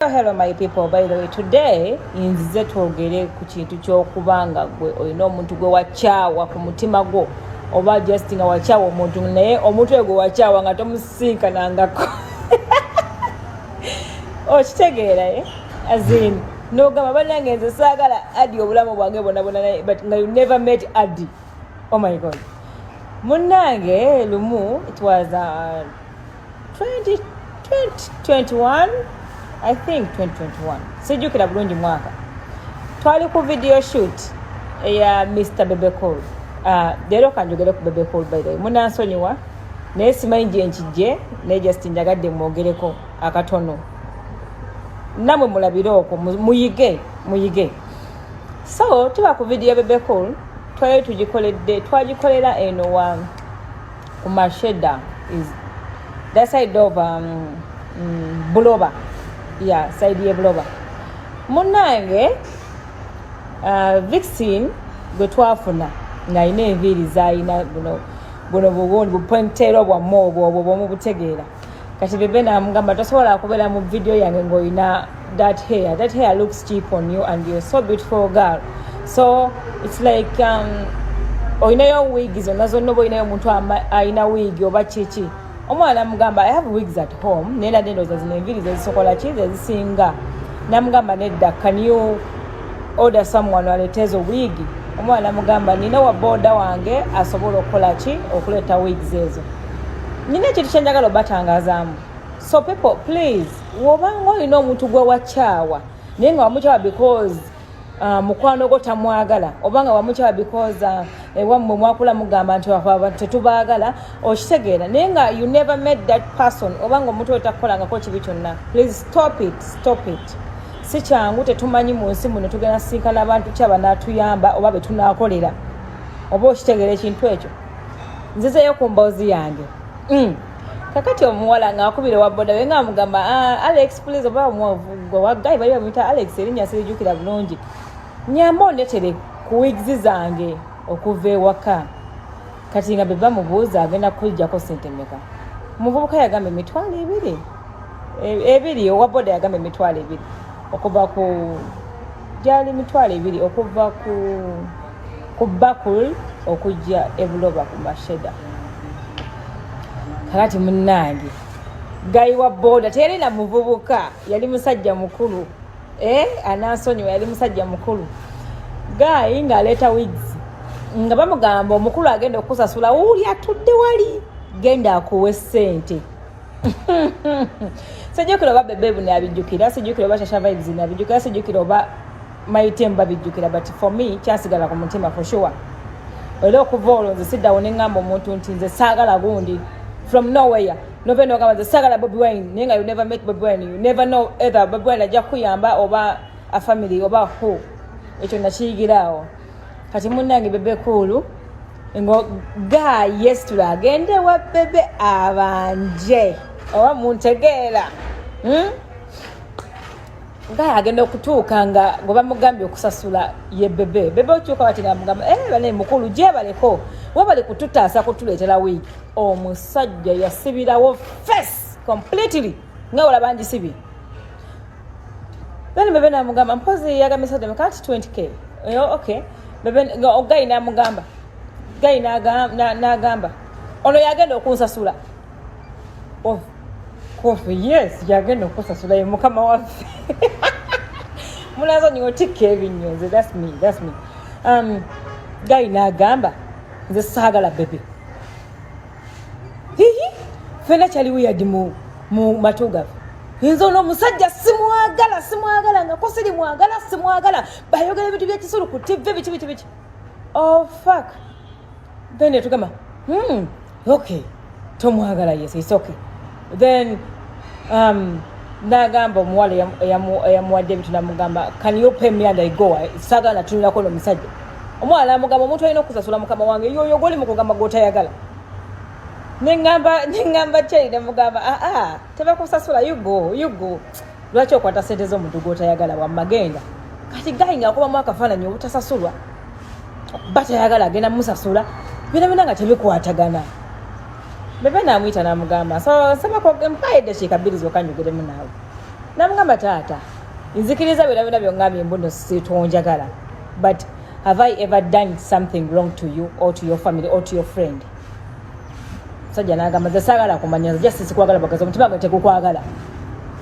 hello my people by the way today nzize twogere ku kintu kyokuba nga gwe olina omuntu gwe wakyawa ku mutima gwo oba just nga wakyawa omuntu naye omuntu egwe wakyawa nga tomusisinkanangako okitegeera oh, e eh? azin nogamba banange nze saagala adi obulamu bwange bonabona naye but nga you never met adi oh my god munange lumu it was uh, 2021 i think 2021 sijjukira bulungi mwaka twali ku video shoot eya mr bebecol uh, leero kanjogere ku bebecol by the way munansonyiwa naye simanyi gyenkijje naye just njagadde mwogereko akatono namwe mulabire okwo muyige muyige so tuba ku video bebecol twali tugikoledde twagikolera eno wa ku masheda is that side of um, mm, buloba ya yeah, side ye buloba munange uh, vixin gwe twafuna ng'alina enviiri zalina buno buno buwundi bupointero bwamme obwo obwo bwomubutegeera kati bebe namugamba tosobola kubeera mu vidiyo yange ngaolina that hair that hair looks cheap on you and you're so beautiful girl so it's like um, olinayo wiigi zonna zonna oba olinayo omuntu alina wiigi oba kiki omwana amugamba i have wigs at home naye nadde ndowooza zino enviri zezisokola ki zezisinga namugamba nedda can you order someone aleeta ezo wiigi omwana amugamba nina wa booda wange asobola okukola ki okuleeta wigs ezo nina ekintu kyenjagala obatangazaamu so people please wobanga olina omuntu gwe wakyawa naye nga wamukyawa because uh, mukwano gwo tamwagala obanga wamukyawa because uh, ewammwe mwakula mugamba nti tetubaagala okitegeera naye nga you never made that person obanga omuntu oyo takukolangako kibi kyonna please stop it stop it si kyangu tetumanyi mu nsi muno tugenda sinkana abantu kyaba natuyamba oba betunakolera oba okitegeera ekintu ekyo nzizeyo ku mboozi yange mm. kakati omuwala ngaakubira wa boda we nga amugamba ah, alex please oba omwogwa wagayi bali bamuyita alex erinnya sirijukira bulungi nyamba ondetere ku wigs zange okuva ewaka kati nga beba mubuuza agenda kujjako sente meka omuvubuka yagamba emitwalo ebiri e-, ebiri owa boda yagamba emitwalo ebiri okuva ku gyali mitwalo ebiri okuva ku ku bakul okujja ebuloba ku masheda kakati munange gayi wa boda teyali na muvubuka yali musajja mukulu eh, anasonyiwa yali musajja mukulu gayi ng'aleeta wigs nga bamugamba omukulu agenda okusasula wuli atudde wali genda akuwe sente sijjukira oba bebebu nabijjukira sijjukira oba shasha vibes nabijjukira sijjukira oba my team babijjukira but for me kyasigala ku mutima for sure era okuva olwo nze siddawo ne ŋŋamba omuntu nti nze saagala gundi from nowhere nove nogamba nze saagala bobi wine naye nga you never met bobi wine you never know either bobi wine ajja kukuyamba oba a family oba who ekyo nakiyigira awo kati munnange bebe kuulu ngo ga yesitula agende wa bebe abanje oba muntegeera hmm? ngaye agenda okutuuka nga gwe bamugambye okusasula ye bebe bebe okyuka bati ngamugamba eh, bane mukulu gyebaleko webali kututaasa kutuleetera wiiki omusajja yasibirawo face completely nga wala bangisibye then bebe namugamba mpozi yagambisade kati 20k yo ok bebe gayi namugamba gayi nagamba ono yagenda okunsasula oh, kofi yes yagenda okusasula ye mukama waffe munazo niotikka ebinnyo nze thats me thats me um, gayi nagamba nze saagala bebe hihi fena kyali wiyadi mu, mu matu gaffe nze ono omusajja simwagala simwagala nga kusiri mwagala simwagala bayogera ebintu byekisulu ku tv biki biki biki oh fak then etugamba hmm. okay tomwagala yes it's okay then um, nagamba omuwala eyamuwadde ebintu namugamba can you pay me and i go sagala natunulako no musajja omuwala namugamba omuntu alina okusasula mukama wange yoyo goli mukugamba gwotayagala nengamba nengamba kyai nemugamba aa ah, ah. tebakusasula you go you go lwaki okwata sente z'omuntu gwotayagala wamma genda kati gayi ngaakubamu akafaananyi obutasasulwa batayagala agenda musasula byona byona nga tebikwatagana bebe namuyita namugamba nsabakmpaye eddakiika bbiri zokka njogeremu naawe namugamba taata nzikiriza byona byona byongambye mbuno sitonjagala but have i ever done something wrong to you or to your family or to your friend sajja nagamba nze sagala kumanya nze just sikwagala bagaza omutima gwe tegukwagala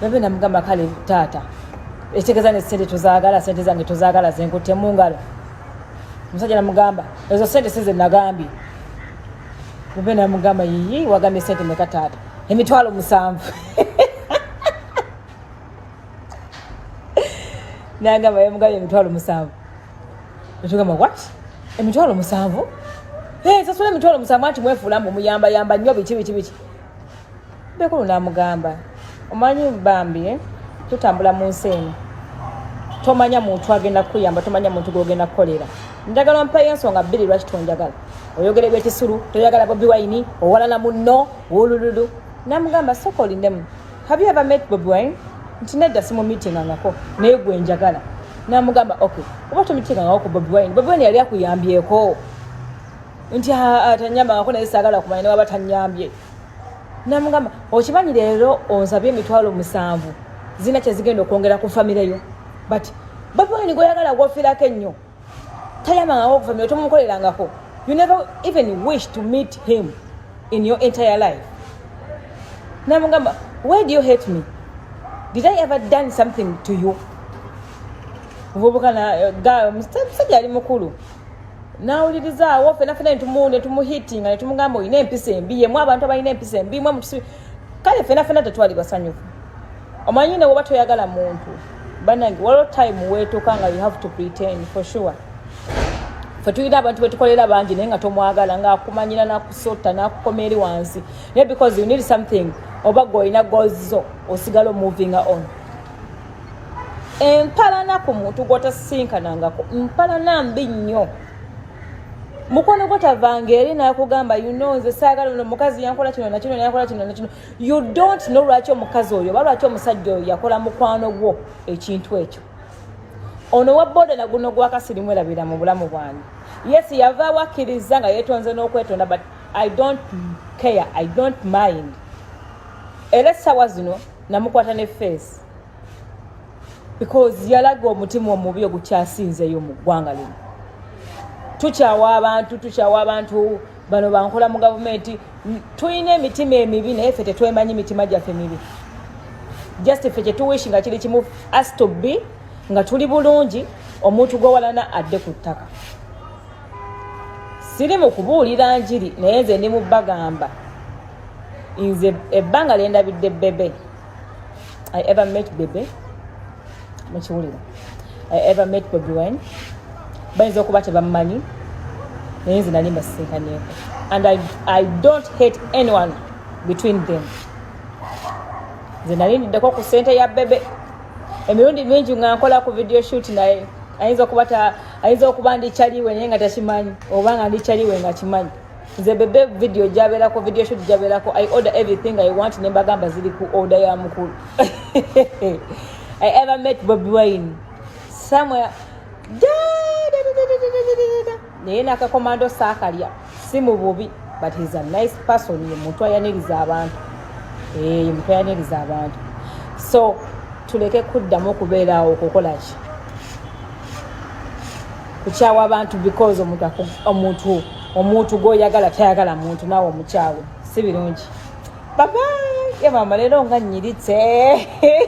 nabe namugamba kale taata ekitegeza ne sente tuzagala sente zange tuzagala zenkutte mu ngalo omusajja namugamba ezo sente size nagambye nabe namugamba yiyi wagambye sente meka taata emitwalo musanvu nagamba yamugambye emitwalo musanvu Ekigamba what? Emitwalo musanvu? Hey, sasula emitwalo musanvu anti mwefuula mbu muyamba yamba nnyo biki biki biki. Bekulu n'amugamba omanyi bambi eh, tutambula mu nsi eno tomanya muntu agenda kukuyamba tomanya muntu gwogenda kukolera njagala mpayo ensonga bbiri lwaki tonjagala oyogera ebyekisulu toyagala bobi wayini owalana munno wulululu namugamba soka olindemu have you ever met bobi wine nti nedda simumitingangako naye gwe njagala namugamba ok oba tomitingangako ku bobi wine bobi wine yali akuyambyeko nti atanyambangako naye sagala kumanya newaba tanyambye namugamba okimanyi leero onsabye emitwalo musanvu zirina kyezigenda okwongera ku famireyo but bobi wine gweoyagala gwofirako ennyo tayamangako okufamira tomumukolerangako you never even wish to meet him in your entire life namugamba why do you hate me did i ever done something to you muvubukana eh, gayo musajja ali mukulu nawulirizaawo fena fena netumuhitinga netumugamba olina empisa embi yemu abantu abalina empisa embi mwe kale fena fena tetwali basanyufu omanyi ne woba toyagala muntu banange waliwo time wetuka nga you have to pretend for sure fe tulina abantu betukolera bangi naye nga tomwagala nga akumanyira nakusota nakukoma eri wansi naye because you need something oba gweolina gozo osigala omoving on empalana ku muntu gwotasisinkanangako mpalana mbi nnyo mukwano gwotavanga eri nakugamba you know nze saagala no mukazi yankola kino nakino nakola kino nakino you don't know lwaki omukazi oyo oba lwaki omusajja oyo yakola mukwano gwo ekintu ekyo ono wa boda naguno gwakasirimu erabira mu bulamu bwange yes yavaawo akkiriza nga yetonze n'okwetonda but i don't care i don't mind era essaawa zino namukwata ne face because yalaga omutima omubi ogukyasinzeyo mu ggwanga lino tukyawa abantu tukyawa abantu bano bankola mu gavumenti tulina emitima emibi naye fe tetwemanyi mitima gyaffe mibi just fe kyetuwishi nga kiri kimu as to be nga tuli bulungi omuntu gwewalana adde ku ttaka siri mu kubuulira njiri naye nze ndi mu bagamba nze ebbanga lyendabidde bebe i ever met bebe mukiwulira i ever met bobi wine bayinza okuba tebamumanyi naye nze nali mbasisinkaneeko and I, i don't hate anyone between them nze nali ndiddeko ku sente ya bebe emirundi mingi nga nkola ku video shoot naye ayinza okuba ayinza okuba ndikyaliwe naye nga takimanyi oba nga ndikyaliwe nga kimanyi nze bebe video jaberako video shoot jaberako i order everything i want ne mbagamba ziri ku order ya mukulu i ever met bobi wine somewhere naye nakakomando saakalya si mu bubi but he's a nice person ye muntu ayaniriza abantu eh, ye muntu ayaniriza abantu so tuleke kuddamu okubeeraawo okukola ki kukyawa abantu because omuntu omuntu gwoyagala tayagala muntu naawe omukyawe si birungi baba yamama leero nga nyiritse